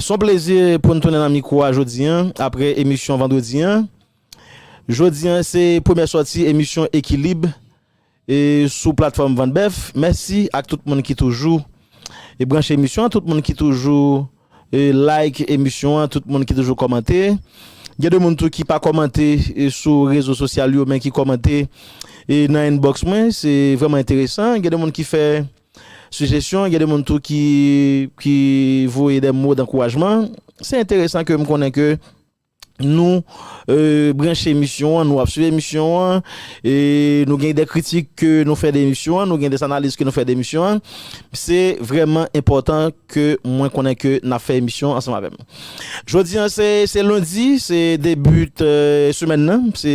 S on plezi pou n tounen nan mikwo a jodi an apre emisyon vandredi an. Jodi an se premyè sòti emisyon Ekilib sou platfòm Vant Bèf. Mèsi ak tout moun ki toujou branche emisyon an, tout moun ki toujou like emisyon an, tout moun ki toujou kòmante. Gen de moun tou ki pa kòmante sou rezo sosyal yo men ki kòmante nan inbox mwen, se vrèman enteresan. Gen de moun ki fè. Sijesyon, gen de moun tou ki voye de mo dankourajman. Se enteresan ke m konnen ke nou branche emisyon an, nou ap swiv emisyon an, e nou gen de kritik ke nou fè de emisyon an, nou gen de analiz ke nou fè de emisyon an. Se vreman enpòtan ke mwen konnen ke n ap fè emisyon ansanm avè m. Jodi an se lundi, se debut semèn nan, se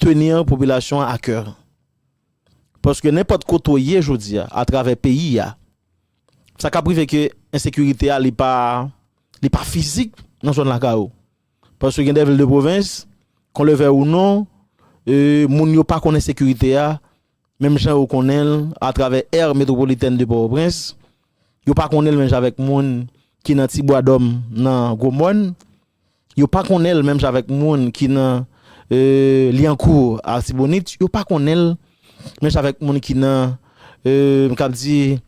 tenir popilasyon an a coeur. Paske nenpòt kote w ye jodi a atravè peyi a, sa kap rive ke ensekirite a li pa li pa fizik nan zòn lakay ou. Paske gen de vil de pwovens, kon le vèy ou non, moun yo pa konn ensekirite a. Menm jan yo konnen l atravè Aire Métropolitaine de Port-au-Prince, yo pa konnen l menm jan avèk moun ki nan Ti Bwadòm nan Gwo Mòn, yo pa konnen l menm jan avèk moun ki nan Lyankou Artibonite, yo pa konnen l menm jan avèk moun ki nan, m kab di,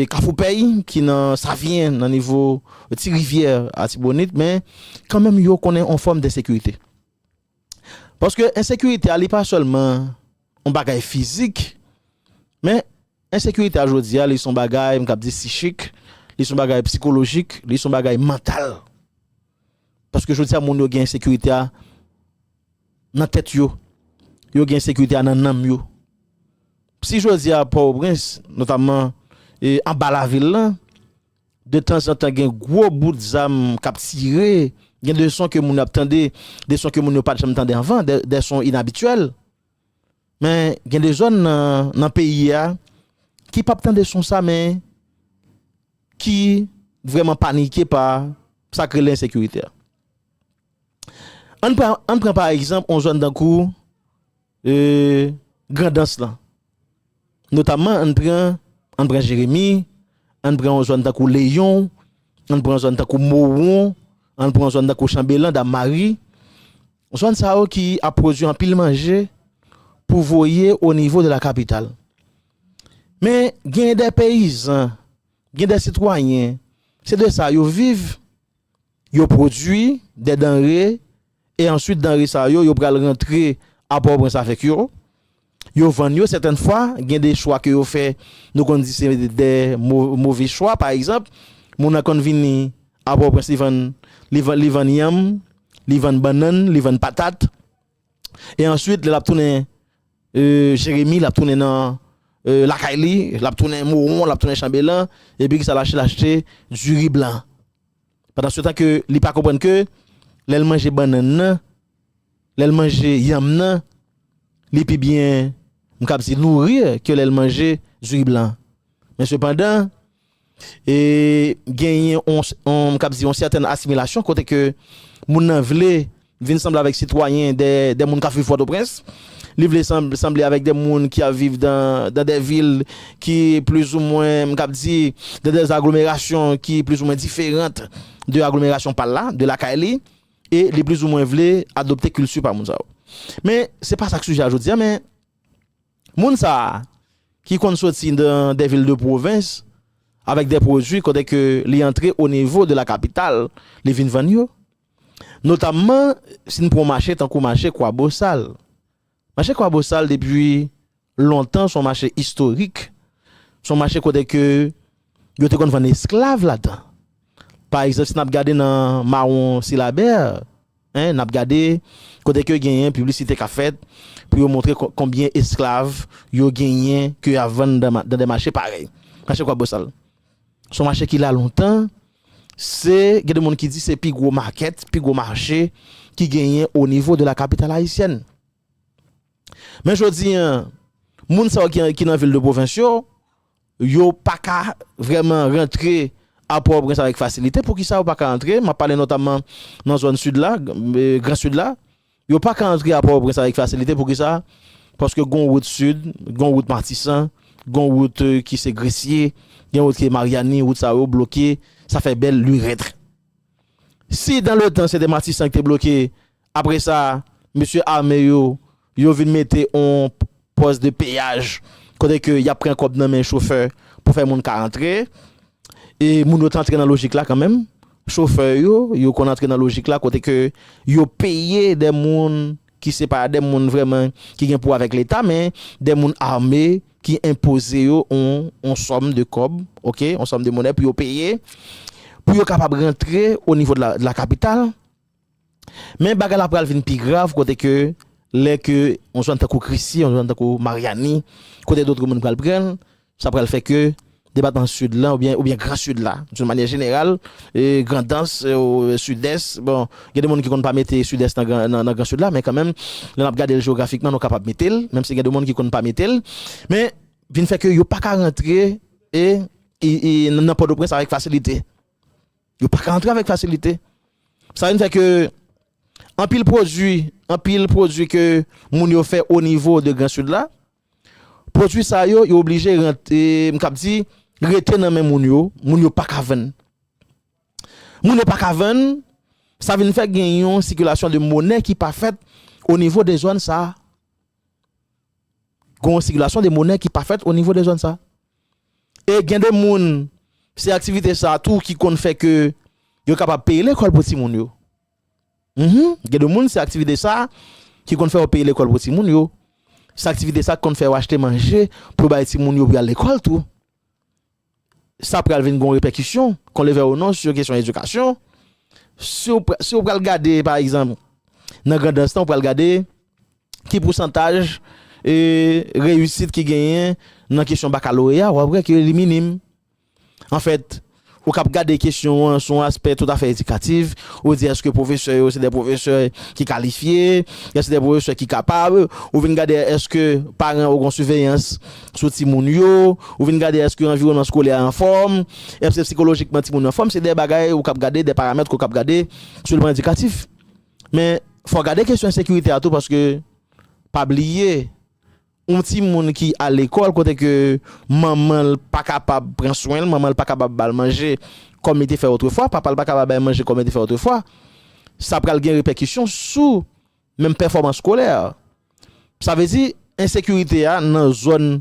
Kafou Pèy, ki nan Savyen nan nivo Ti Rivyè Artibonite, men kanmenm yo konnen yon fòm densekirite. Paske ensekirite a li pa sèlman yon bagay fizik, men ensekirite a jodi a li son bagay m kab di sichik, li son bagay psikolojik, li son bagay mantal. Paske jodi a moun yo gen ensekirite a nan tèt yo, yo gen ensekirite a nan nanm yo. Si jodi a Port-au-Prince, notamman anba lavil lan, De tanzantan gen gwo bout zam k ap tire, gen de son ke moun yo ap tande, de son ke moun yo pa t janm tande anvan, de son inabityèl. Men, gen de zòn nan peyi a ki pa p tande son sa men ki vrèman panike pa sa k rele ensekirite a. An n pran pa egzanp yon zòn tankou. Grandans lan. Notamman ann pran, ann pran Jeremi, ann pran yon zòn tankou Leyon, ann pran yon zòn tankou Mowon, ann pran yon zòn tankou Chanbelan, Dam Mari. Zòn sa yo ki ap pwodui anpil manje pou voye o nivo de la kapital. Men gen dè peyizan, gen dè sitwayen, se de sa yo viv, yo pwodui dè danre, E answit danre sa yo, yo pral rantre a Pòtoprens avèk yo. Yo vann yo sètèn fwa, gen de chwa ke yo fè, nou konn di se de move chwa. Pa egzanp, moun nan konn vini a Pòtoprens li vann, li vann yanm, li vann bannann, li vann patat. E answit lè l ap tounen Jeremi, l ap tounen nan lakay li, l ap tounen Mowon, l ap tounen Chanbelan, epi kisa l achte? L achte diri blan. Pandansetan ke li pa konprann ke lè l manje bannann nan, lè l manje yanm nan, li pi byen, m kab di nourrir ke lè l manje diri blan an. Men sepandan, e genyen on, m kab di on sètèn asimilasyon kote ke moun nan vle Vin sanble avèk sitwayen dè moun k ap viv Pòtoprens. Li vle sanble avèk dè moun ki ap viv dan dè vil ki plizoumwen, m kab di, dan dè aglomerasyon ki plizoumwen diferant de aglomerasyon pa l la, de lakay li. E li plizoumwen vle adopte kilti pa moun sa yo. Men, se pa sa k sijè a jodi a, men moun sa a ki konn soti dan dè vil de pwovens avèk dè pwodui kote ke li antre onivo de la kapital, li vin vann yo. Notamman, si n pran mache tankou mache Kwabosal. Mache Kwabosal depi lontan s on mache istorik, s on mache kote ke yo te konn vann esklav ladan. Pa egzanp, si n ap gade nan Mawon Silabè, n ap gade kote ke genyen piblisite k ap fèt pou yo montre konbyen esklav yo genyen ke y a vann nan de mache parèy mache Kwabosal. Se yon mache ki la lontan, se gen de moun ki di se pi gwo makèt, pi gwo mache ki genyen o nivo de la kapital ayisyèn. Men jodi an, moun sa yo ki nan vil de pwovens yo, yo pa ka vrèman rantre a Pòtoprens avèk fasilite. Poukisa yo pa ka antre? M ap pale notamman nan zòn sid la, gran sid la. Yo pa ka antre a Pòtoprens avèk fasilite, poukisa? Paske gon wout sid, gon wout Matisan, gon wout ki se Gresye, gen wout ki se Maryani, wout sa yo bloke, sa fè bèl lurètre. Si dan le tan se te Matisan ki te bloke, apre sa mesye ame yo, yo vin mete on Pòs de peyaj, kote ke yap pran kòb nan men chofè pou fè moun ka antre. E moun yo t antre nan lojik la kanmenm. Chofè yo, yo konn antre nan lojik la kote ke yo peye de moun ki se pa de moun vrèman ki gen pou wè avèk leta men de moun ame ki enpoze yo yon sòm de kòb ok, yon sòm de monè pou yo peye pou yo kapab rantre o nivo de la kapital. Men bagay la pral vin pi grav kote ke lè ke yon zòn tankou Krisye, yon zòn tankou Maryani, kote dotre moun pral pran l, sa pral fè ke depatman Sid la oubyen oubyen gran Sid la, doun manyè jeneral, Grandans, Sidès, bon, gen de moun ki konn pa mete Sidès nan gran nan gran Sid la, men kanmenm lè n ap gade l jewografikman nou kapab mete l, menm si gen de moun ki konn pa mete l, men vin fè ke yo pa ka rantre e nan Pòtoprens avèk fasilite. Yo pa ka antre avèk fasilite. Sa vin fè ke anpil pwodui, anpil pwodui ke moun yo fè o nivo de gran sid la, pwodui sa yo, yo oblije rantre, m kab di, rete nan men moun yo, moun yo pa ka vann. Moun yo pa ka vann, sa vin fè gen yon sikilasyon de monè ki pa fèt o nivo de zòn sa. Gen yon sikilasyon de monè ki pa fèt o nivo de zòn sa. E gen de moun, se aktivite sa tou ki konn fè ke yo kapab peye lekòl pou timoun yo. Gen de moun se aktivite sa ki konn fè yo peye lekòl pou timoun yo. Se aktivite sa ki konn fè yo achte manje pou bay timoun yo pou y al lekòl tou. sa pral vin gon repèkisyon, kon le vè ou non, sou kesyon edikasyon. Si ou, si ou pral gade, pa egzanp, nan Grandans lan, ou pral gade ki pousantaj e reyisit ki genyen nan kesyon bakaloreya, ou ap wè ke li minim. Anfèt, ou kab gade kesyon an sou yon aspè toutafè edikatif, ou di èske pwofesè yo se de pwofesè ki kalifye, èske se de pwofesè ki kapab, ou vin gade èske paran yo gon siveyans sou timoun yo, ou vin gade èske anviwònman skolè a anfòm, èske sikolojikman timoun yo anfòm, se de bagay ou kab gade, de paramèt ke w kab gade sou plan edikatif. Men, fò w gade kesyon ensekirite a tou paske pa bliye yon timoun ki al lekòl kote ke manman l pa kapab pran swen l, manman l pa kapab ba l manje kòm li te fè otrefwa, papa l pa kapab bay manje kòm li te fè otrefwa, sa pral gen repèkisyon sou. menm pèfòmans skolè. Sa vle di ensekirite a nan zòn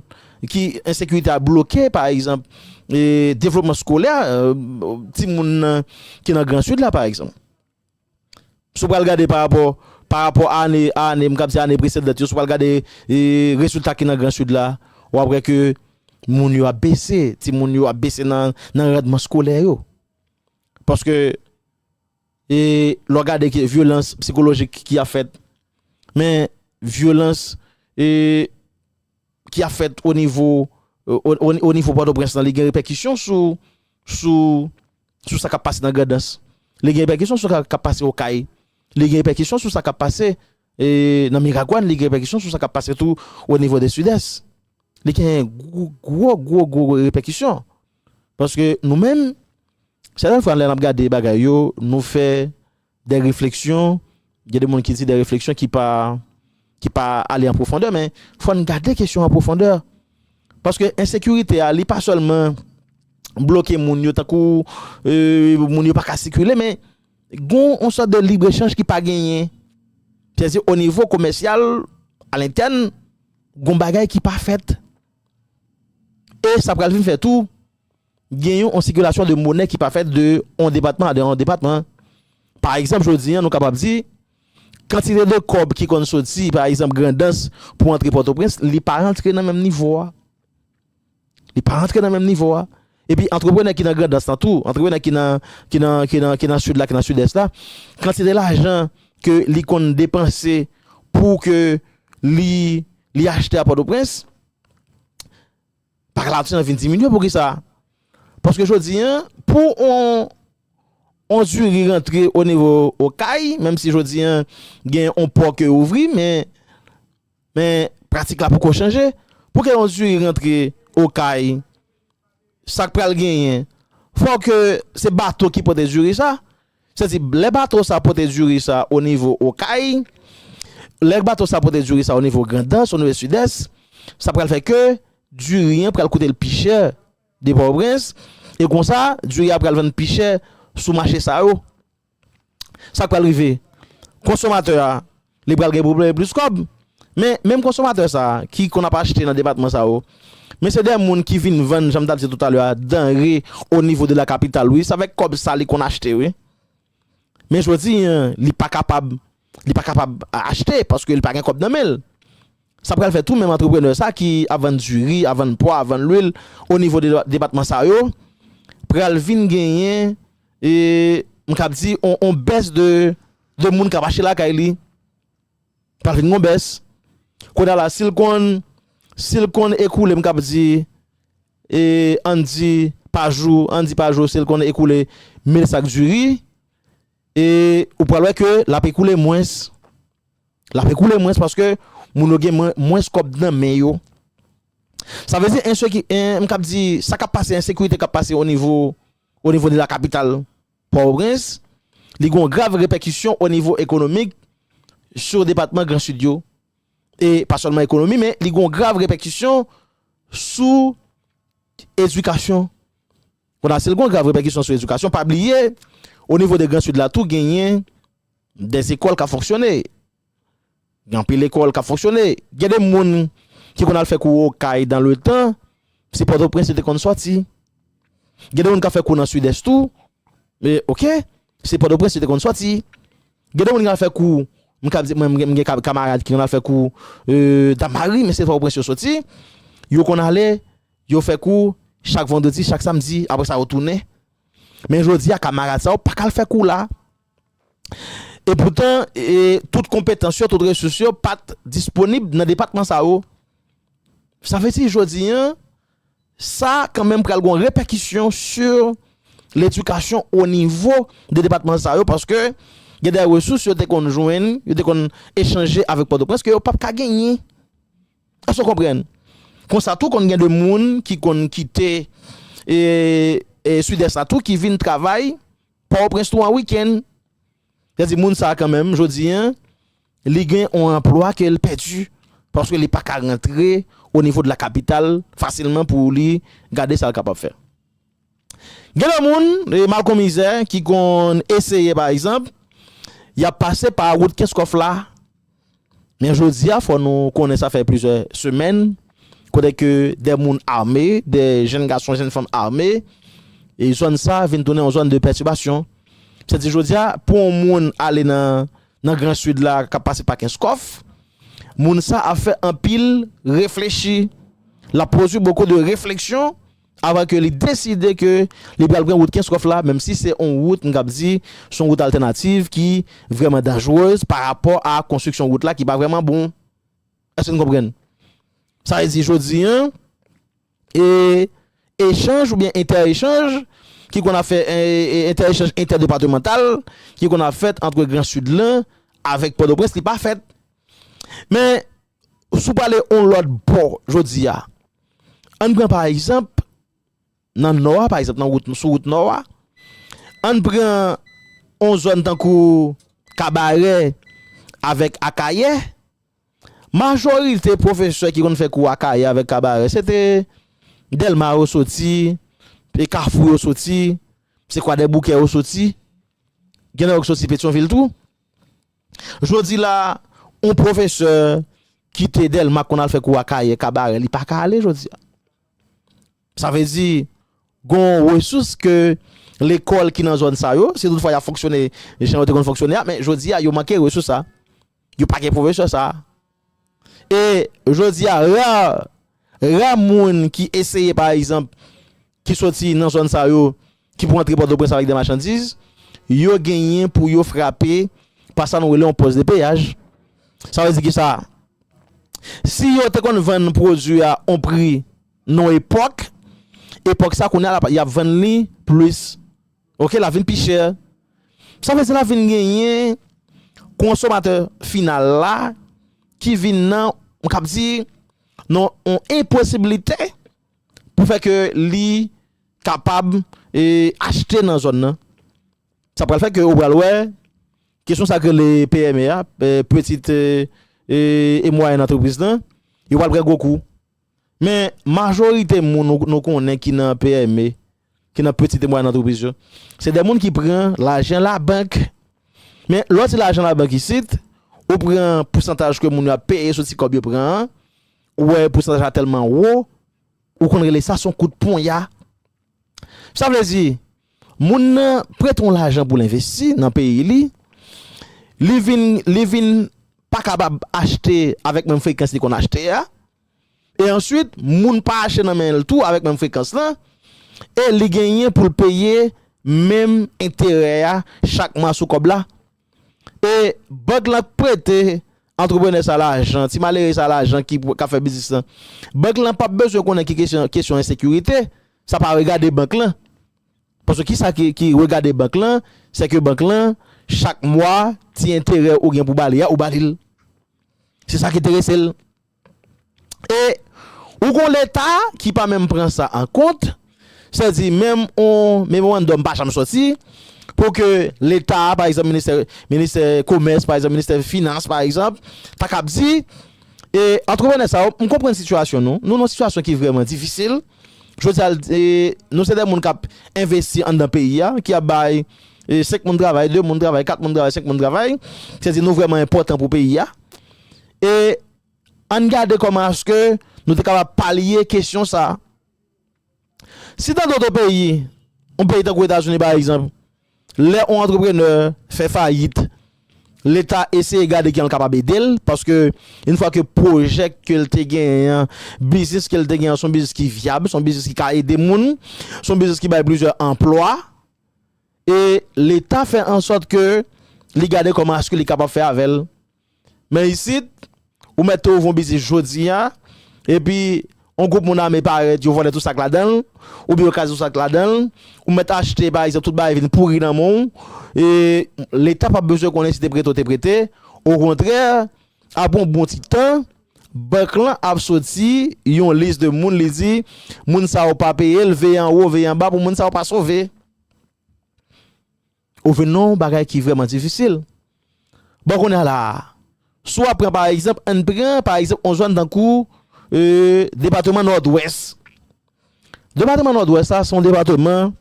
ki ensekirite a bloke pa egzanp devlopman skolè timoun nan ki nan gran sid la pa egzanp. Si w pral gade pa rapò pa rapò a ane a ane m kab di ane presedant yo si w pral gade rezilta ki nan gran sid la w ap wè ke moun yo ap bese timoun yo ap bese nan randman skolè yo paske E lè w gade ke vyolans psikolojik ki ap fèt, men vyolans e ki ap fèt o nivo o nivo Pòtoprens lan li gen repèkisyon sou sou sa k ap pase nan Grandans, li gen repèkisyon sou sa k ap pase Okay, li gen repèkisyon sou sa k ap pase e nan Miragwàn, li gen repèkisyon sou sa k ap pase tou o nivo de Sidès. Li gen gwo gwo gwo repèkisyon. Paske nou menm, sèten fwa lè n ap gade bagay yo, nou fè dè refleksyon, gen de moun ki di dè refleksyon ki pa ki pa ale an pwofondè men fò n gade kesyon an pwofondè. Paske ensekirite a li pa sèlman bloke moun yo tankou moun yo pa ka sikile men gon on sòt de libre chanj ki pa genyen. Sètadi o nivo komèsyal a lentèn gon bagay ki pa fèt. E sa pral vin fè tou, gen yon sikilasyon de monè ki pa fèt de yon depatman a de yon depatman. Pa egzanp, jodi an nou kapab di, kantite de kòb ki konn soti, pa egzanp, Grandans pou antre Pòtoprens, li pa rantre nan menm nivo a. Li pa rantre nan menm nivo a. Epi antreprenè ki nan Grandans lan tou, antreprenè ki nan ki nan ki nan ki nan Sid la ki nan Sidès la, kantite lajan ke li konn depanse pou ke li li achte a Pòtoprens, paka lajan an vin diminye pou kisa? Paske jodi an pou on on diri rantre o nivo Okay, menm si jodi an gen on pò ke ouvri men Men pratik la poko chanje. Pou ke yon diri rantre okay sak pral genyen fò ke se bato ki pote diri sa. Se di lè bato sa pote diri sa o nivo okay, lè bato sa pote diri sa o nivo grandans, o nivo sidès, sa pral fè ke diri an pral koute l pi chè de pòtoprens e konsa diri a pral vann pi chè sou mache sa yo. Sak pral rive? Konsomatè a li pral gen pou peye plis kòb. Men, menm konsomatè sa a ki konn ap achte nan depatman sa yo, men se de moun ki vin vann, jan m ta di toutalè a, danre o nivo de la kapital wi. Se avèk kòb sa li konn achte wi. Men jodi an, li pa kapab li pa kapab achte paske li pa gen kòb nan men l. Sa pral fè tou menm antreprenè sa ki ap vann diri, ap vann pwa, ap vann lwil o nivo de depatman sa yo pral vin genyen e m kab di on bès de de moun k ap achte lakay li. Pral vin gen yon bès. Kounye a la si l konn si l konn ekoule m kab di e ann di pa jou ann di pa jou si l konn ekoule mil sak diri, E ou pral wè ke l ape koule mwens, l ape koule mwens paske moun yo gen mwens kòb nan men yo. Sa vle di ensekite, m kab di sa kap pase, ensekirite kap pase o nivo, o nivo de la kapital Pòtoprens, li gon grav repèkisyon o nivo ekonomik sou depatman gran Sid yo. E pa sèlman ekonomi men li gon grav repèkisyon sou edikasyon. Konasy l gon grav repèkisyon sou edikasyon pa bliye o nivo de gran sid la tou genyen des ekòl kap fonksyone gen anpil ekòl kap fonksyone gen de moun ki konn al fè kou okay dan le tan se pòtoprens yo te konn sòti gen de moun kap fè kou nan sidès tou ok se pòtoprens yo te konn sòti gen de moun ki al fè kou m kab di mwen m gen kamarad ki konn al fè kou dan mari men se pòtoprens yo sòti yo konn ale Yo fè kou chak vandredi, chak samdi, apre sa yo tounen. Men jodi a kamarad sa yo pa ka al fè kou la. E poutan, tout konpetans yo, tout resous yo pa t disponib nan depatman sa yo. Sa vle di jodi a, sa kanmenm pral gen yon repèkisyon sou ledikasyon onivo de depatman sa yo paske gen de resous yo te konn jwenn, yo te konn echanje avèk Pòtoprens ke yo pap ka genyen. Èske w konprann? Konsa tou konn gen de moun ki konn kite Sud-Est la tou ki vin travay Port-au-Prince tou an week-end. Sa vle di moun sa kan menm jodi an li gen yon anplwa ke l pèdi paske li pa ka rantre au niveau de la capitale fasilman pou li gade sa l kapab fè. Gen lè moun, malkonmizè, ki konn eseye pa egzanp, y ap pase pa wout Kenskòf la, men jodi a fò nou konnen sa fè plizyè semèn kote ke de moun ame, de jenn gason, jenn fanm ame, e zòn sa vin tounen yon zòn de pètibasyon. Sa vle di jodi a pou yon moun ale nan gran sid la k ap pase pa Kenskòf, moun sa ap fè anpil reflechi, l ap pwodui boko de refleksyon. Avan ke li deside ke li pral pran wout Kenskòf la, menm si se yon wout m kab di se yon wout altènativ ki vrèman danjrez pa rapò a konstriksyon wout la ki pa vrèman bon. Èske n konprann? Sa vle di jodi an e echanj oubyen entèechanj ki konn ap fè entèechanj entèdepatemantal ki konn ap fèt antre gran Sid lan avèk Pòtoprens li pa fèt. Men Si w prale yon lòt bò jodi a, ann pran pa egzanp nan nò a, pa egzanp nan wout, sou wout nò a, ann pran yon zòn tankou Kabarè avèk Akayè, majorite pwofesè ki konn fè kou Akayè avèk Kabarè, se te Dèlma yo soti, e Kafou yo soti, se Kwadèboukè yo soti, gen nan yo ki soti Petyonvil tou. Jodi la a, yon pwofesè ki te Dèlma k konn al fè kou Akayè, Kabarè, li pa ka ale jodi a. Sa vle di, gen yon resous ke lekòl ki nan zòn sa yo, si tout fwa y ap fonksyone jan yo te konn fonksyone a, men jodi a yo manke resous sa a. Yo pa gen pwofesè sa a. E jodi a ra ra moun ki eseye pa egzanp ki soti nan zòn sa yo ki pou antre Pòtoprens avèk de machandiz, yo genyen pou yo frape pa sa nou rele yon pòs de peyaj. Sa vle di ki sa? Si yo te konn vann pwodui a yon pri nan yon epòk, epòk sa kounye a y ap vann li plis. Ok lap vin pi chè. Sa vle di lap vin genyen konsomatè final la ki vin nan m kab di nan yon enposiblite pou fè ke li kapab achte nan zòn nan. Sa pral fè ke ou pral wè kesyon sa yo k rele PME a, Petite et Moyenne Entreprise lan, yo pral pran gwo kou. Men, majorite moun nou konnen ki nan PME, ki nan peti e mwayèn antrepriz yo, se de moun ki pran lajan labank. Men, lè w di lajan labank isit, ou pran pousantaj ke moun yo ap peye sou ti kòb yo pran an, ou wè pousantaj la tèlman wo, ou konn rele sa se yon kout ponya. Sa vle di, moun nan prete yon lajan pou l envesti nan peyi li, li vin, li vin pa kapab achte avèk menm frekans li konn achte a. E answit moun pa achte nan men l tou avèk menm frekans lan e li genyen pou l peye menm enterè a chak mwa sou kòb la. E bank lan k prete antreprenè sa lajan, ti malere sa lajan ki k ap fè biznis lan. Bank lan p ap bezwen konnen ki kesyon ensekirite, sa pa regade bank lan. Paske kisa ki regade bank lan, se ke bank lan chak mwa ti enterè ou gen pou ba li a ou ba li l. Se sa ki enterese l. E ou gon leta ki pa menm pran sa an kont, sètadi menm on memorandòm pa janm sòti pou ke leta pa egzanp ministè ministè komès pa egzanp ministè finans pa egzanp ta kab di e antreprenè sa yo m konprann sitiyasyon nou nou nan sitiyasyon ki vrèman difisil jodi a nou se de moun k ap envesti anndan peyi a ki ap bay 5 moun travay 2 moun travay 4 moun travay 5 moun travay sètadi nou vrèman enpòtan pou peyi a E ann gade kòman aske nou te kapab palye kesyon sa a. Si nan doto peyi, yon peyi tankou Etazini pa egzanp, lè yon antreprenè fè fayit, Leta eseye gade jan l kapab ede l, paske yon fwa ke pwojè ke l te genyen an, biznis ke l te genyen an se yon biznis ki vyab, se yon biznis ki ka ede moun, se yon biznis ki bay plizyè anplwa, e Leta fè ansòt ke li gade kòman aske li kapab fè avè l. Men isit, ou mèt te ouvri yon biznis jodi a, epi yon gwoup moun ame parèt, yo vòlè tout sa k ladan l, oubyen yo kraze tout sa k ladan l, ou mèt achte pa egzanp tout bagay vin pouri nan men w, e Leta p ap bezwen konnen si te prete ou te prete, okontrè, apre yon bon ti tan, bank lan ap soti yon lis de moun li di, moun sa yo pa peye l, veye anwo, veye anba pou moun sa yo pa sove. Ou vin nan yon bagay ki vrèman difisil. Bon kounye a la a, si w ap pran pa egzanp, ann pran pa egzanp yon zòn tankou depateman Nòdwès. Depateman Nòdwès la se yon depateman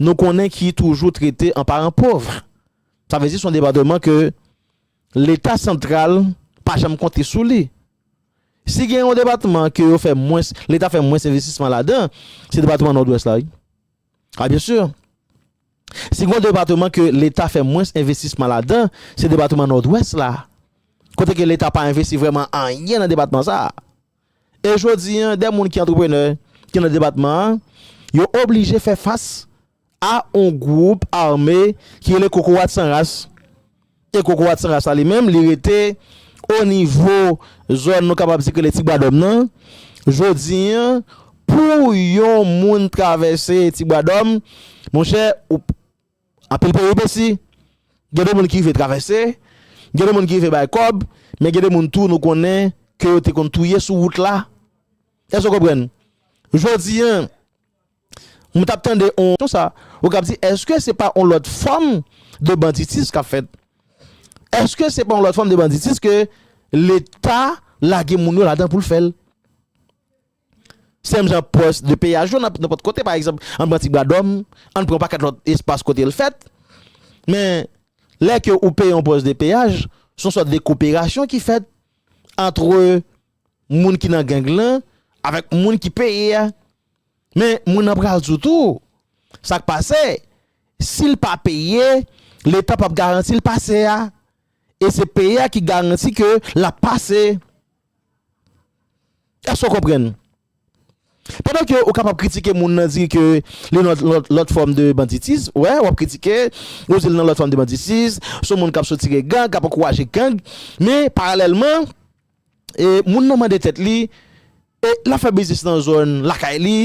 nou konnen ki toujou trete an paran pov. Sa vle di se yon depateman ke leta santral pa janm konte sou li. Si gen yon depateman ke yo fè mwens, leta fè mwens envestisman ladan, se depateman Nòdwès la wi. A byen sur. Si gon depateman ke leta fè mwens envestisman ladan, se depateman Nòdwès la. Kote ke leta pa envesti vrèman anyen nan depatman sa a. E jodi an, dè moun ki antreprenè ki nan depatman an, yo oblije fè fas a on gwoup ame ki rele kokorat san ras. E kokorat san ras la li menm, li rete o nivo zòn nou kapab di ki rele Tibwadòm nan. Jodi an, pou yon moun travèse Tibwadòm, monchè, ou anpil peripesi. Gen de moun ki rive travèse, gen de moun ki rive bay kòb, men gen de moun tou nou konnen ke yo te konn touye sou wout la. Èske w konprann? Jodi an. M tap tande on Kon sa ou kap di eske se pa on lot fom de banditis kap fet eske se pa on lot fom de banditis ke leta lage moun yo ladan poul fel sem jan pos de peyaj yo nan pot kote pa egzanp an pran ti bwa dom an pran paket lot espas kotel fet men lè ke ou peye on pos de peyaj son sot de koperasyon ki fet antre moun ki nan gang lan avèk moun ki peye a men moun nan pral di w tou sa k pase si l pa peye leta p ap garanti l pase a e se peye a ki garanti ke l ap pase èske w konprann pandan ke ou kapab kritike moun nan di ke li nan lòt fòm de banditis wè w ap kritike ou di l nan lòt fòm de banditis son moun k ap soutire gang k ap ankouraje gang men paralèlman E moun nan mande tèt li, e lap fè biznis nan zòn lakay li,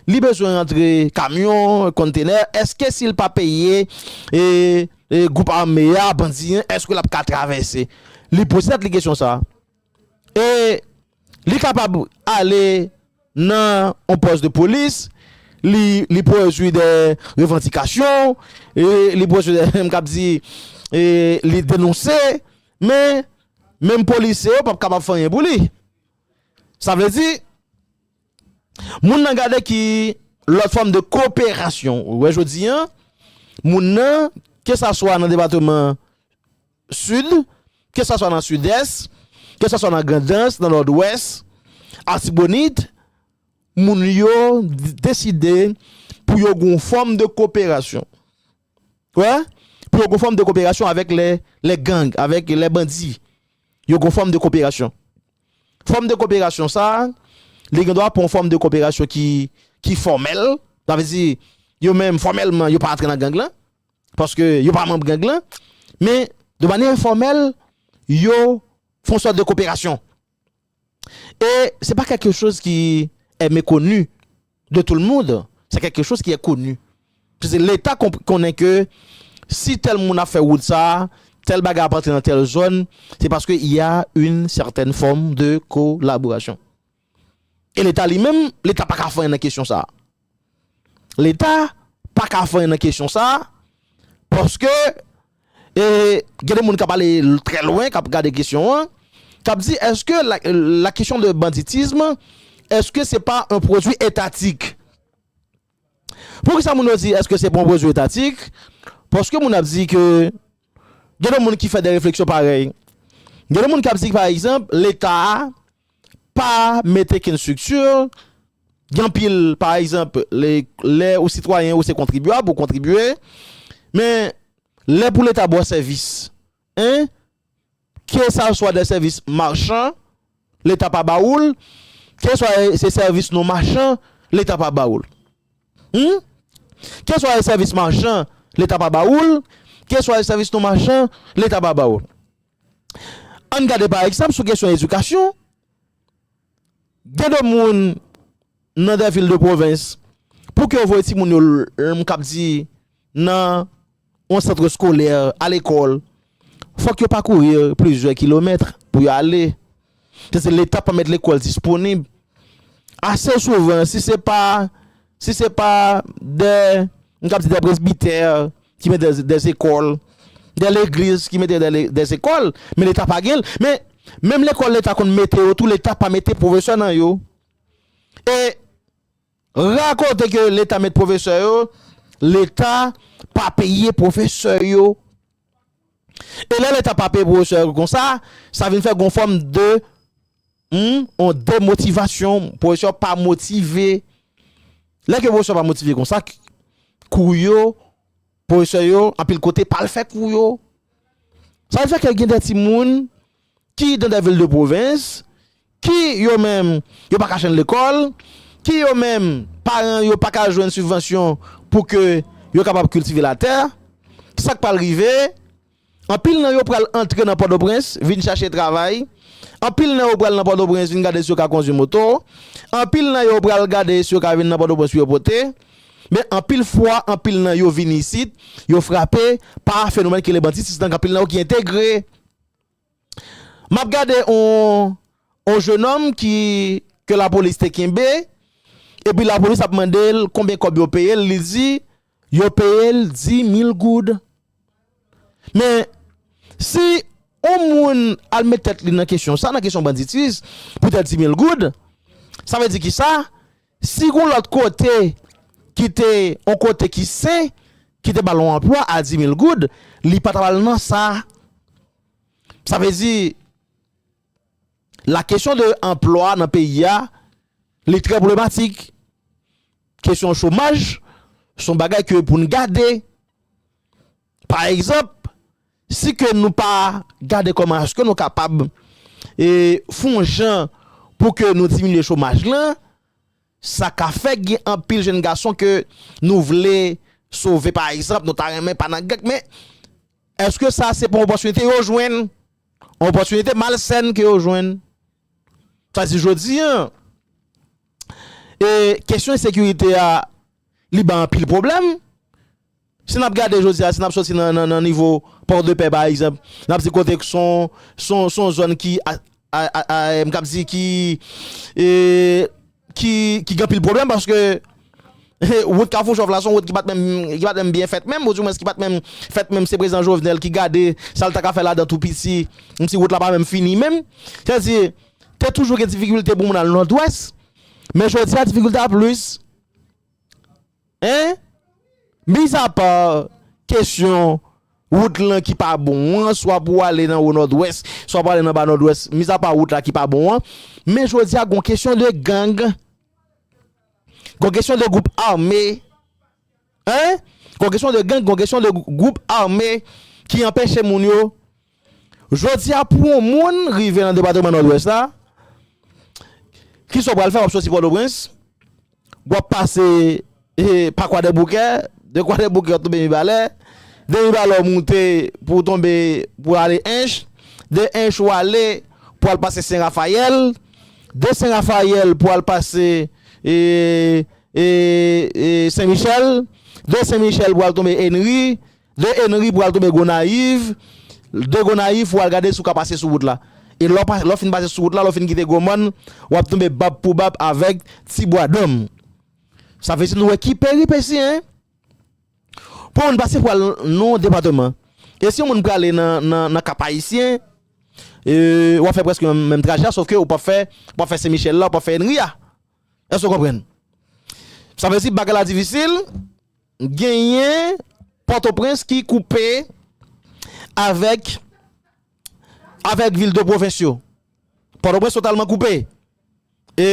li bezwen rantre kamyon, konntenè, èske si l pa peye e gwoup ame a, bandi an, èske lap ka travèse? Li poze tèt li kesyon sa. E li kapab ale nan yon pòs de polis, li pwodui dè revandikasyon, li pwodui dè, m kab di, li denonse. Men, menm polisye yo p ap kapab fè anyen pou li. Sa vle di, moun nan gade ki lòt fòm de koperasyon. Ou wè jodi an, moun nan, ke sa swa nan depateman Sid, ke sa swa nan Sidès, ke sa swa nan Grandans, nan Nòdwès, Atibonit, moun yo deside pou yo gen yon fòm de koperasyon. Wè? Pou yo gon fòm de koperasyon avèk lè lè gang, avèk lè bandi. Yo gon fòm de koperasyon. Fòm de koperasyon sa a, li gen dwa pou yon fòm de koperasyon ki ki fòmèl. Sa vle di, yo menm fòmèlman yo pa antre nan gang lan. Paske yo pa manb gang lan. Men, de manyè enfòmèl, yo fon sòt de koperasyon. E se pa kèlke choz ki è mekonu de tou l mound, se kèlke choz ki è konu. Pise leta konnen ke si tèl moun ap fè wout sa, tèl bagay ap antre nan tèl zòn, se paske y a yn sètèn fòm de kolaborasyon. E leta li menm, leta pa ka fè anyen nan kesyon sa. Leta pa ka fè anyen nan kesyon sa a paske gen de moun k ap ale trè lwen, k ap gade kesyon an, k ap di èske la kesyon de banditism èske se pa yon pwodui etatik? Poukisa moun yo di èske se pa yon pwodui etatik? Paske moun ap di ke gen de moun ki fè de refleksyon parèy. Gen de moun k ap di pa egzanp Leta Pa mete kenn structure, gen anpil pa egzanp lè ou sitwayen ou se kontribyab ou kontribye men lè pou leta ba w sèvis 1 ke sa swa de sèvis marchan leta pa ba ou l ke swa se sèvis non machan leta pa ba ou l humm ke swa se sèvis machan leta pa ba ou l ke swa se sèvis non machan leta pa ba ou l. Ann gade pa egzanp sou kesyon edikasyon, gen de moun nan de vil de pwovens pou ke yo voye timoun yo m kab di nan yon sant eskolè a lekòl fòk yo pakourir plizyè kilomèt pou yo ale. Se di leta pa met lekòl disponib ase souvan si se pa si se pa dè m kab di dè presbitè ki met dè zekòl dè legliz ki mete dè zekòl men leta pa gen l men menm lekòl leta konn mete yo tou leta pa mete pwofesè nan yo e Rakonte ke leta met pwofesè yo, leta pa peye pwofesè yo. E lè leta pa peye pwofesè yo konsa, sa vin fè gon fòm de yon demotivasyon, pwofesè yo pa motive. Lè ke pwofesè yo pa motive konsa, kou yo, pwofesè yo, anpil kote pa al fè kou yo. Sa vin fè ke gen de timoun. ki dans des villes de province, ki yo menm yo pa ka chenn lekòl, ki yo menm paran yo pa ka jwenn sibvansyon pou ke yo kapab kiltive latè, sa k pral rive, anpil nan yo pral antre nan Pòtoprens vin chache travay, anpil nan yo pral nan Pòtoprens vin gade si yo ka kondwi moto, anpil nan yo pral gade si yo ka vin nan Pòtoprens pou yo pote, men anpil fwa anpil nan yo vini isit yo frape pa fenomèn ki rele banditism, anpil nan yo ki entegre. Map gade on jenòm ki ke lapolis te kenbe epi lapolis ap mande l konbyen kòb yo peye l, li di yo peye l 10 mil goud. Men si on moun al met tèt li nan kesyon sa, nan kesyon banditiz pou tèt 10 mil goud, sa vle di kisa? Si gon lòt kote ki te on kote ki sen ki te bal on anplwa a 10000 goud li pa tap al nan sa. Sa vle di la kesyon de anplwa nan peyi a li trè pwoblematik. Kesyon chomaj son bagay ke poun gade. Pa egzanp, si ke nou pa gade kòman èske nou kapab fon jan pou ke nou diminye chomaj lan, sa ka fè gen anpil jenn gason ke nou vle sove pa egzanp, nou ta renmen pa nan gang men èske sa se pa yon opòtinite yo jwenn? Yon opòtinite malsèn ke yo jwenn. Sa vle di jodi an, kesyon ensekirite a li bay anpil pwoblèm. Si n ap gade jodi a, si n ap soti nan nivo Port de Paix pa egzanp, n ap di kote k s on zòn ki m kab di ki gen anpil pwoblèm paske wout Kafou Chòv la s on wout ki pa t menm byen fèt menm ou di mwens ki pa t menm fèt menm se prezidan Jovenel ki gade sa l ta ka fè ladan tou piti m di wout la pa menm fini menm. Sa vle di te toujou gen difikilte pou moun al Nòdwès men jodi a difikilte a plis. Hein? Mis a part kesyon wout lan ki pa bon an, swa pou ale nan wo nòdwès, swa pou ale nan ba nòdwès, mis a part wout la ki pa bon an, men jodi a gon kesyon de gang, gon kesyon de gwoup ame, hein, gon kesyon de gang, gon kesyon de gwoup ame ki anpeche moun yo. Jodi a pou yon moun rive nan depatman Nòdwès la, kisa w pral fè? W ap soti Pòtoprens, w ap pase pa Kwadèboukè, de Kwadèboukè w ap tonbe Mibalè, de Mibalè w moute pou w tonbe pou w ale Ench, de Ench w ale pou w al pase Sen Rafayèl, de Sen Rafayèl pou w al pase Sen Michèl, de Sen Michèl pou w al tonbe Enri, De Henry pou al tonbe Gonayiv, de Gonayiv pou al gade si w ka pase sou wout la. E lè w fin pase sou wout la, lè w fin kite Gwo Mòn, w ap tonbe bab pou bab avèk Ti Bwa Danm. Sa vle di nou wè ki peripesi hein! Pou yon moun pase pou al nan yon depateman, e si yon moun prale nan Kap Ayisyen, w ap fè prèske menm trajè a, sof ke ou p ap fè, ou p ap fè Sen Michèl la, ou p ap fè Henry a. Èske w konprann? Sa vle di bagay la difisil. Genyen Pòtoprens ki koupe avèk avèk vil de pwovens yo. Pòtoprens totalman koupe. E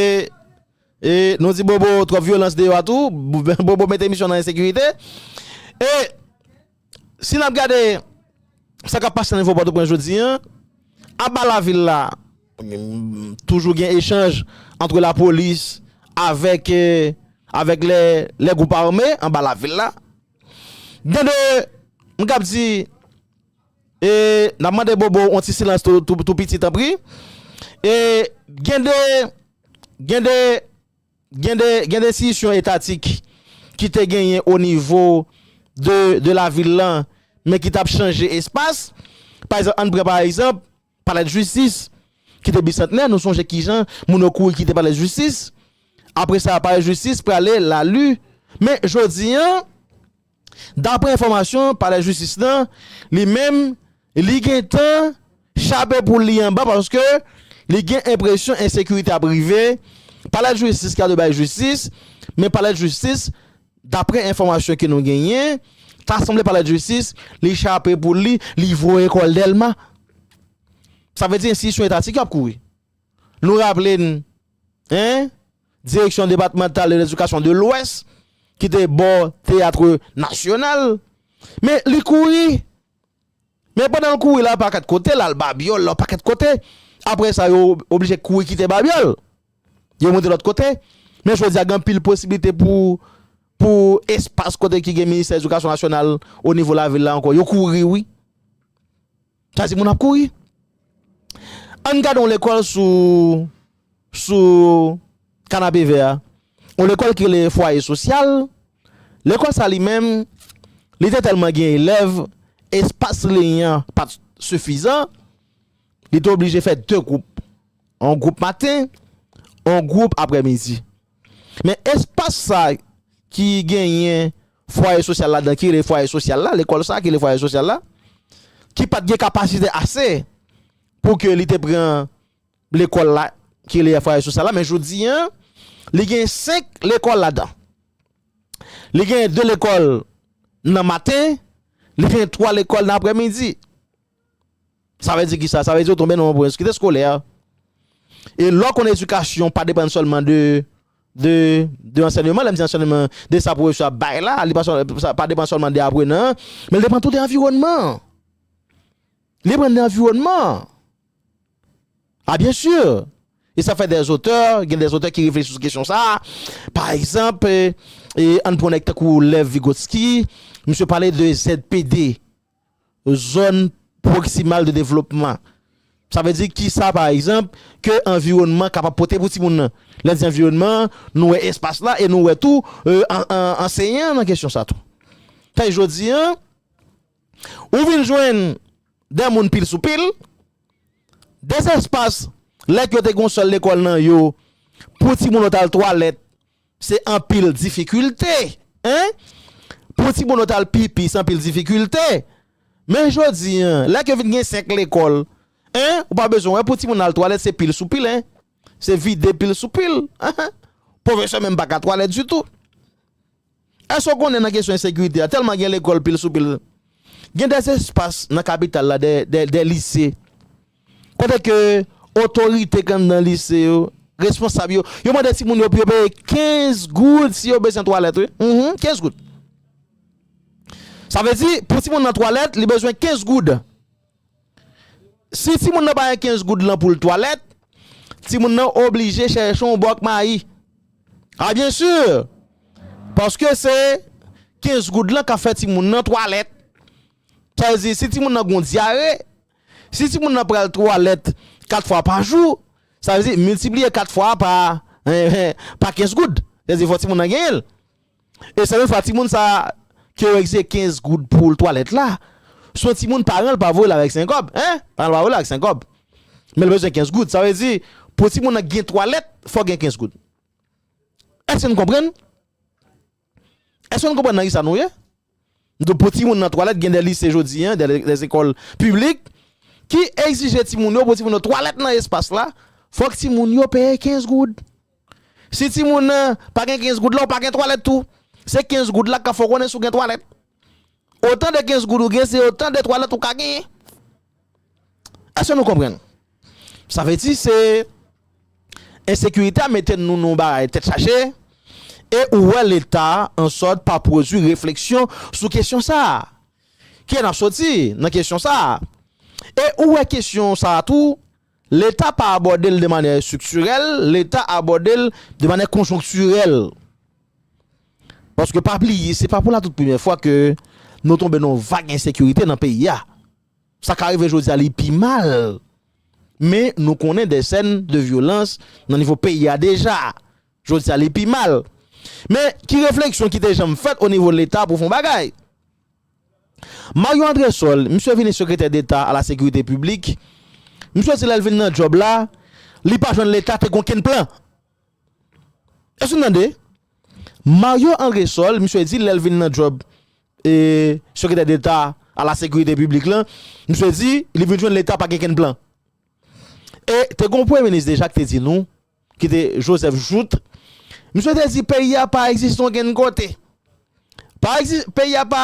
e nou di Bobo twòp vyolans deyò a tou, Bobo mete misyon nan ensekirite. E si n ap gade sa k ap pase nan nivo Pòtoprens jodi an, aba lavil la. Toujou gen echanj antre lapolis avèk avèk lè lè gwoup ame anba lavil la. Gen de m kab di e n ap mande Bobo on ti silans tou tou tou piti tanpri e gen de gen de gen de gen de enstitisyon etatik ki te genyen o nivo de de lavil lan men ki t ap chanje espas. Pa ekzanp, ann pran pa ekzanp. Palè jistis ki te bisantnè, nou sonje kijan moun yo kouri kite palè jistis, apre sa palè jistis prale lalu, men jodi an daprè enfòmasyon palè jistis lan li menm li gentan chape poul li anba paske li gen enpresyon ensekirite ap rive palè jistis ka dwe bay jistis men palè jistis Daprè enfòmasyon ke nou genyen, ta sanble palè djistis li chape poul li, li voye kòl Dèlma. Sa vle di enstitisyon etatik yo ap kouri. Nou raple n, 1 direksyon depatmantal de ledikasyon de lwès ki te bò teatre nasyonal men li kouri. Men pandan l kouri lan pakèt kote, l al Babyòl lan pakèt kote, apre sa yo oblije kouri kite Babyòl, yo moute lòt kote. Men jodi a gen anpil posiblite pou pou espas kote ki gen Ministè Edikasyon Nasyonal o nivo lavil la ankò. Yo kouri wi. Sa di moun ap kouri. Ann gade yon lekòl sou Sou kanape vè a. Yon lekòl ki rele Fwaye Sosyal. Lekòl sa li menm, li te tèlman gen elèv, espas liy an pa t sifizan. Li te oblije fè de gwoup. Yon gwoup maten, yon gwoup aprè midi. Men espas sa ki genyen Fwaye Sosyal ladan, ki rele Fwaye Sosyal la, lekòl sa ki rele Fwaye Sosyal la, ki pa t gen kapasite ase pou ke li te pran. Lekòl la ki rele Yafraye Sosa la men jodi an li gen 5 lekòl ladan. Li gen 2 lekòl nan maten, li gen 3 lekòl nan aprèmidi. Sa vle di ki sa? Sa vle di yo tonbe nan yon pwenskrite skolè. E lò konn edikasyon pa depann sèlman de de ansènyeman, lè m di ansènyeman de sa pwofesè ap bay la, li pa depann sèlman de aprenan an, men li depann tou de anviwònman an. Li depann de anviwònman an. Ah bien sûr! E sa fè des auteurs, gen des auteurs ki reflechi sou kesyon sa a. Pa egzanp, ann pran nèg tankou Lev Vygotsky, misye pale de ZPD, Zòn Pwoksimal de Devlopman. Sa vle di ki sa pa egzanp, ke anviwònman kapab pote pou timoun nan. Lè n di anviwònman, nou wè espas la e nou wè tou anseyan an nan kesyon sa tou. Fè jodi an. Ou vin jwenn 2 moun pil sou pil, 2 espas lèk yo te gen yon sèl lekòl nan yo pou timoun yo t al twalèt se anpil difikilte en, pou timoun yo t al pipi se anpil difikilte men jodi an lèk yo vin gen 5 lekòl en ou pa bezwen wè pou timoun al twalèt se pil sou pil en, se vide pil sou pil en, pwofesè menm pa ka twalèt ditou. Èske w konnen nan kesyon ensekirite a, tèlman gen lekòl pil sou pil, gen dè espas nan kapital la, dè lise, kote ke otorite kandan lise yo, responsab yo, yo mande timoun yo pou yo peye 15 goud si yo bezwen twalèt wi, humm, 15 goud. Sa vle di, pou timoun nan twalèt, li bezwen 15 goud. Si timoun nan pa gen 15 goud lan pou l twalèt, timoun nan oblije chèche yon bòk mayi. A byen si! Paske se 15 goud lan k ap fè timoun nan twalèt. Sa vle di si timoun nan gen yon dyare, si timoun nan pral twalèt 4 fwa pa jou, sa vle di miltipliye 4 fwa pa 15 goud. Sa vle di fòk timoun nan genyen l. E se menm fwa timoun sa ke ou exize 15 goud poul twalèt la, si yon timoun paran l pa voye l avèk 5 kòb, hein, paran l pa voye l avèk 5 kòb, men l bezwen 15 goud, sa vle di pou timoun nan gen twalèt fòk gen 15 goud. Èske nou konprann? Èske nou konprann nan kisa nou ye? Donk pou timoun nan twalèt gen de lise jodi an, de lekòl piblik ki egzije timoun yo pou timoun yo twalèt nan espas la, fòk timoun yo peye 15 goud. Si timoun nan pa gen 15 goud la ou pa gen twalèt tou. Se 15 goud la k ap fè w konnen si w gen twalèt. Otan de 15 goud ou gen se otan de twalèt ou ka genyen. Eske nou konprann? Sa vle di se ensekirite a mete nou nan yon bagay tèt chaje e ou wè leta an sòt pa pwodui refleksyon sou kesyon sa a. Kilè n ap soti nan kesyon sa a? E ou wè kesyon sa a tou leta pa abòde l de manè estriktirèl, leta abòde l de manè konjonktirèl. Paske pa bliye se pa pou la tout premyè fwa ke nou tonbe nan yon vag ensekirite nan peyi a. Sa ka rive jodi a li pi mal, men nou konnen dè sèn de vyolans nan nivo peyi a deja. Jodi a li pi mal. Men, ki refleksyon ki te janm fèt onivo Leta pou fè yon bagay? Mario Andresol, misye vini sekretè deta a la sekirite piblik, misye di lè l vin nan djòb la, li pa jwenn Leta te gen okenn plan. Èske nou tande? Mario Andresol, misye di lè l vin nan djòb Sekretè Deta a la Sekirite Piblik lan, misye di li vin jwenn Leta pa gen kenn plan. E te gon Premye Minis deja ki te di nou, ki te Joseph Jouthe, misye te di peyi a pa egziste okenn kote. Pa egzis, peyi a pa.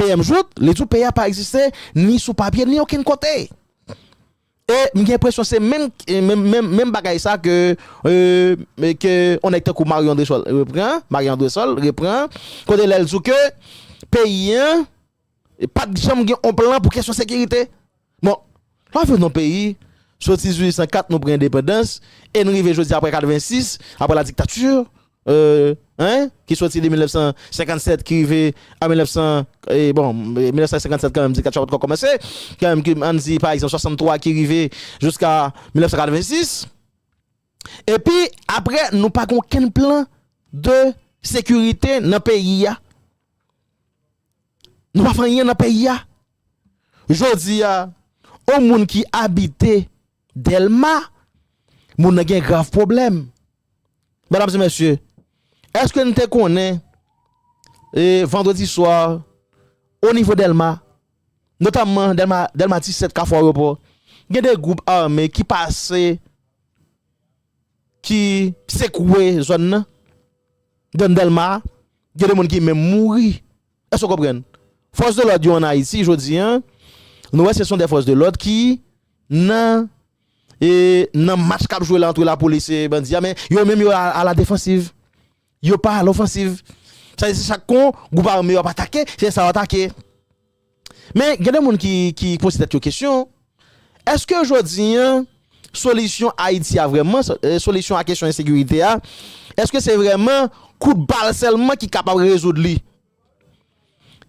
PM jout, li di w peyi a pa egziste ni sou papye ni okenn kote. E m gen enpresyon se menm bagay sa ke yon nèg tankou Mario Andresol repran, Marie Andresol repran, kote lè l di w ke peyi an pa t janm gen yon plan pou kesyon sekirite. Bon, lwa fèt yon peyi, soti 1804 nou pran endepandans e nou rive jodi a aprè 86, aprè la diktati, hein, ki soti de 1957 ki rive an 1900, bon, 1957 kanmenm diktati a pa t ko kòmanse, kanmenm ke an n di pa egzanp 63 ki rive jiska 1986. Epi aprè nou pa gen okenn plan de sekirite nan peyi a. Nou pa fè anyen nan peyi a. Jodi a, on moun ki abite Dèlma, moun nan gen grav pwoblèm. Medam e mesye, èske n te konnen e vandredi swa onivo Dèlma, notamman Dèlma, Dèlma ti 7, Kafou Awopò, gen 2 gwoup ame ki pase, ki sekwe zòn nan, zòn Dèlma a, gen 2 moun ki menm mouri. Èske w konprann? Fòs de lòd yo an Ayiti jodi a, nou wè se son dè fòs de lòd ki nan e nan match k ap jwe la antre lapolis e bandi a men yo menm yo a la defansiv. Yo pa a lofansiv. Sa vle di chak kon gwoup ame yo ap atake, se sa yo atake. Men gen de moun ki poze tèt yo kesyon. Eske jodi an, solisyon Ayiti a vrèman, solisyon a kesyon ensekirite a, eske se vrèman kout bal sèlman ki kapab rezoud li?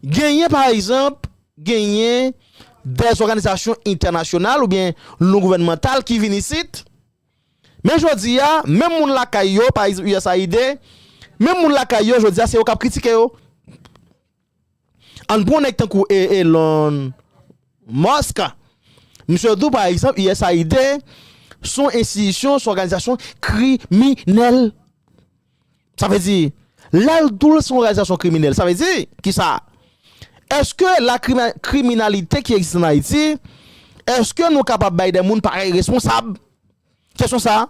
Genyen pa egzanp, genyen de zòganizasyon entènasyonal oubyen non gouvènmantal ki vin isit, men jodi a, menm moun lakay yo, pa egzanp usaid, menm moun lakay yo jodi a se yo k ap kritike yo. Ann pran yon nèg tankou Elon Musk, misye dou pa egzanp usaid s on enstitisyon, s on òganizasyon kriminèl. Sa vle di, lè l dou l s on òganizasyon kriminèl, sa vle di ki sa? Eske la kriminalite ki egziste ann Ayiti, eske nou kapab bay de moun parèy responsab? Kesyon sa?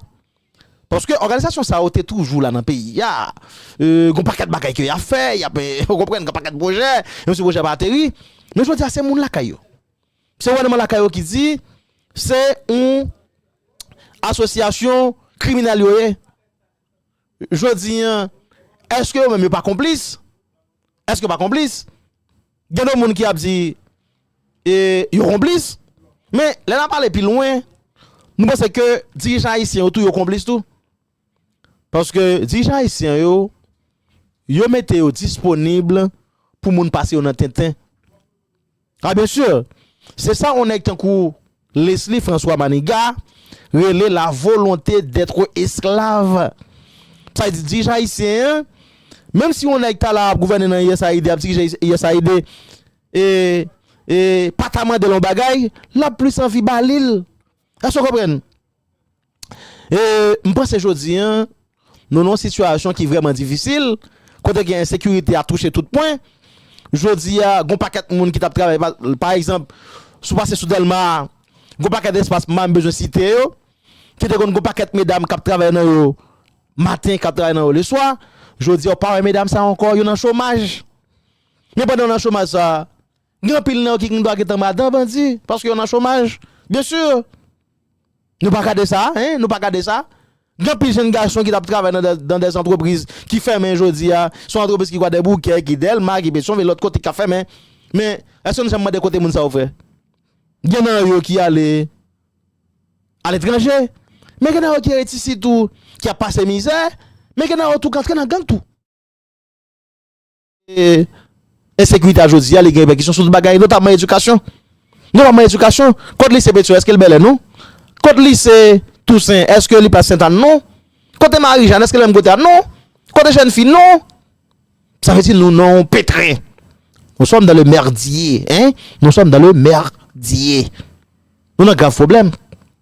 Paske òganizasyon sa yo te toujou la nan peyi a, gen yon pakèt bagay ke y ap fè, y ap, ou konprann, gen yon pakèt pwojè, menm si pwojè pa ateri. Men jodi a se moun lakay yo, se gouvènman lakay yo ki di se yon asosyasyon kriminèl yo ye. Jodi a, èske yo menm yo pa konplis? Eske yo pa konplis? Gen de moun ki ap di e yo konplis. Men lè nap ale pi lwen, nou panse ke dirijan ayisyen yo tou yo konplis tou. Paske dirijan ayisyen yo, yo mete yo disponib pou moun pase yo nan tenten. Ah bien sûr! Se sa on nèg tankou Lesly François Maniga rele la volonté d'être esclave. Sa di dirije Ayisyen an, menm si on nèg ta la ap gouvène nan usaid, ap dirije usaid e e pa ta mande l on bagay, l ap plis anvi ba li l. Èske w konprann? E m panse jodi an, nou nan yon sitiyasyon ki vrèman difisil, kote gen ensekirite a touche tout pwen. Jodi a, gen yon pakèt moun ki t ap travay, pa egzanp, si w pase sou Dèlma a, gen yon pakèt espas, m pa menm bezwen site yo, ki te konn gen yon pakèt medam k ap travay nan yo maten, k ap travay nan yo leswa. Jodi a, ou pa wè medam sa yo ankò, yo nan chomaj. Men pandan yo nan chomaj sa a. Gen anpil nan yo ki gndoa gentan madan bandi paske yo nan chomaj byen sur nou pa gade sa hein nou pa gade sa gen anpil jenn gason ki tap travay nan dan des antrepriz ki fèmen jodia son antrepriz ki kwadèboukè ki dèlma ki petion vil lòt kote ki ka fèmen men eske nou janm mande kote moun sa yo fè gen nan yo ki ale aletranje men gen nan yo ki ret isi tou ki ap pase mizè men gen nan yo tou ki antre nan gang tou. ensekirite a jodi a li gen repèkisyon sou tout bagay notamman edikasyon. Notamman edikasyon. Kot lise Petion eske li Bèlè? Non. Kot lise Tousen eske li plas Sentane? Non. Kote Marijàn eske li menm kote a? Non. Kote Jèn Fi? Non. Sa vle di nou nan yon petrin. Nou sòm dan le merdye. Hein? Nou sòm dan le merdye. Nou nan grav pwoblèm.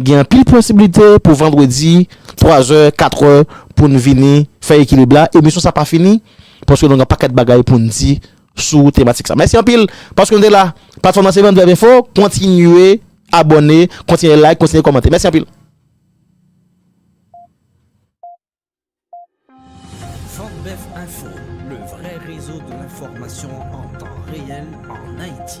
Gen anpil posibilite pou vandredi 3 zè, 4 è pou n vini fè Ekilib la. Emisyon sa pa fini paske nou gen pakèt bagay pou n di sou tematik sa. Mèsi anpil paske nou te la. Platfòm lan se Van Vèv Enfo. Kontinye abòne, kontinye like, kontinye kòmante. Mèsi anpil. Van Vèv Enfo, le vrai réseau de l'information en temps réel en Haïti.